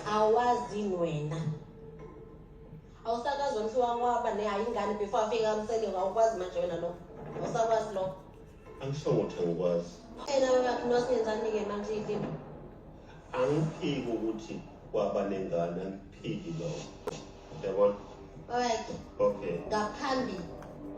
awazini wena awusakazi wamhlu wakwaba ne ayingane before afike kamseliwa awukwazi manje wena lokho awusakwazi lokho angisho ukuthi angikwazi ena weyakhi nosinenzani-ke manje iyilima angiphiki ukuthi kwaba nengane angiphiki lokho Yabona? Alright. Okay. Ngaphambi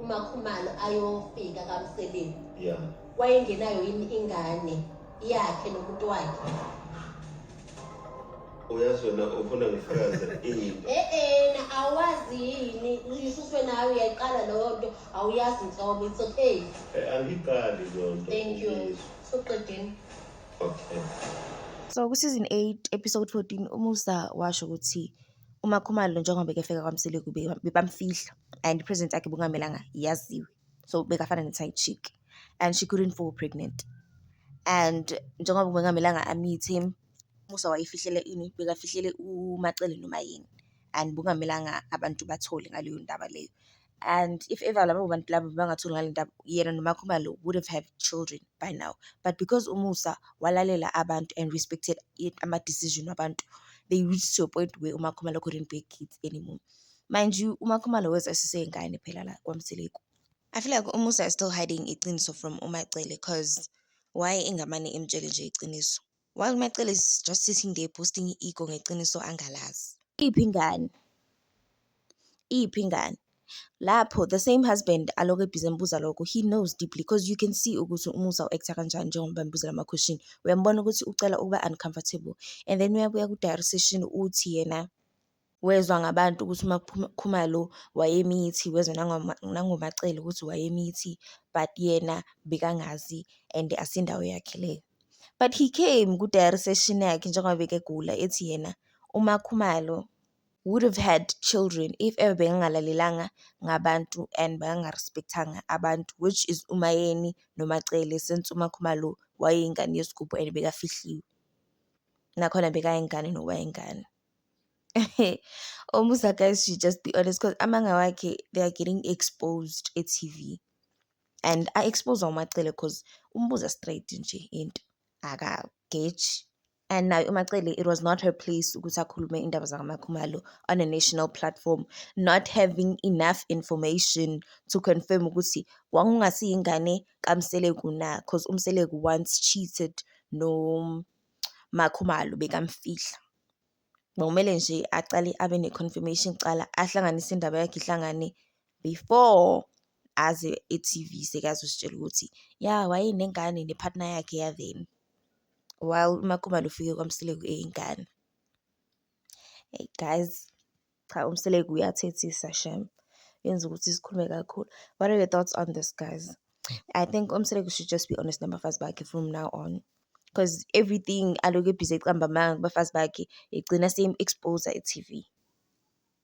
uMakhumalo ayofika kaMseleni. Yeah. Wayengenayo yini ingane yakhe nomuntu wakhe? Uyazi wena ufuna ngifakaze ini? Eh eh na awazi yini uyisuswe nawe uyayiqala leyo nto awuyazi nhlobo it's okay. Eh angiqali leyo nto. Thank you. Soqedeni. Okay. So ku-season 8 episode 14 umusa washo ukuthi UMaKhumalo njengoba bekefika kwaMsile kube bebamfihla and i-presence yakhe bekungamelanga yaziwe. So bekafana ne-side chick and she couldn't fall pregnant. And njengoba bekungamelanga amithe, Musa wayefihlele ini? Bekafihlele uMaCele noMayeni and bekungamelanga abantu bathole ngaleyo ndaba leyo. and if ever labo bantu labo bangatholi ngale ndaba yena nomakhumalo would have have children by now but because umusa walalela abantu and respected ama-decision wabantu they reached to a point where umakhumalo couldn't be kids anymore mind you umakhumalo weza esiseyingane phela la kwamseleku i feel like umusa is still hiding iqiniso from umacele cause why engamane emtshele nje iqiniso While Macele is just sitting there boosting i-ego ngeqiniso angalazi. Iphi ingane? Iphi ingane? Lapho the same husband alokhu ebhizi embuza lokho he knows deeply because you can see ukuthi umusa u-actor kanjani njengoba embuzela ama-question. Uyambona ukuthi ucela ukuba uncomfortable and then uyabuya ku-diary session uthi yena wezwa ngabantu ukuthi uma kuphuma Khumalo wayemithi wezwa nangoma nangomacele ukuthi wayemithi but yena bekangazi and asindawo yakhe leyo but he came ku-diary session yakhe njengoba bekegula ethi yena uma Khumalo would have had children if ever bekangalalelanga ngabantu and bekangarespectanga abantu which is uMayeni noMacele since uMaKhumalo wayeyingane yesigubhu and bekafihliwe nakhona bekayingane nowayengane. Omusa guys should just be honest because amanga wakhe they are getting exposed e-T_V and a-expose uMacele cause umbuza straight nje into akageji and naye uMacele it was not her place ukuthi akhulume indaba zakaMakhumalo on a national platform not having enough information to confirm ukuthi wawungasiyingane kaMseleku na cause uMseleku once cheated no uMaKhumalo bekamfihla. Bekumele nje acale abe ne-confirmation kuqala, ahlanganise indaba yakhe ihlangane before aze e-T_V sekazositshela ukuthi ya wayenengane ne-partner yakhe ya-then, while uMaKhumalo ufike kwamsile eyingane. Eyi guys. Cha uMseleku uyathethisa shem. Yenza ukuthi sikhulume kakhulu. What are your thoughts on this guys? I think uMseleku should just be honest nabafazi bakhe from now on. Cause everything aloku ebhizi ecamba amanga kubafazi bakhe egcina same expose e-TV.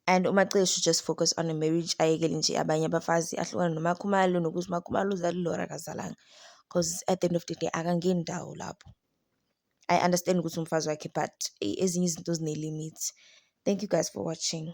And uMacele should just focus on a marriage ayekele nje abanye abafazi ahlukane noMakhumalo nokuthi uMakhumalo uzalile or akazalanga. Cause at the end of the day akangeni ndawo lapho. I understand ukuthi umfazi wakhe but ezinye izinto zine-limit. Thank you guys for watching.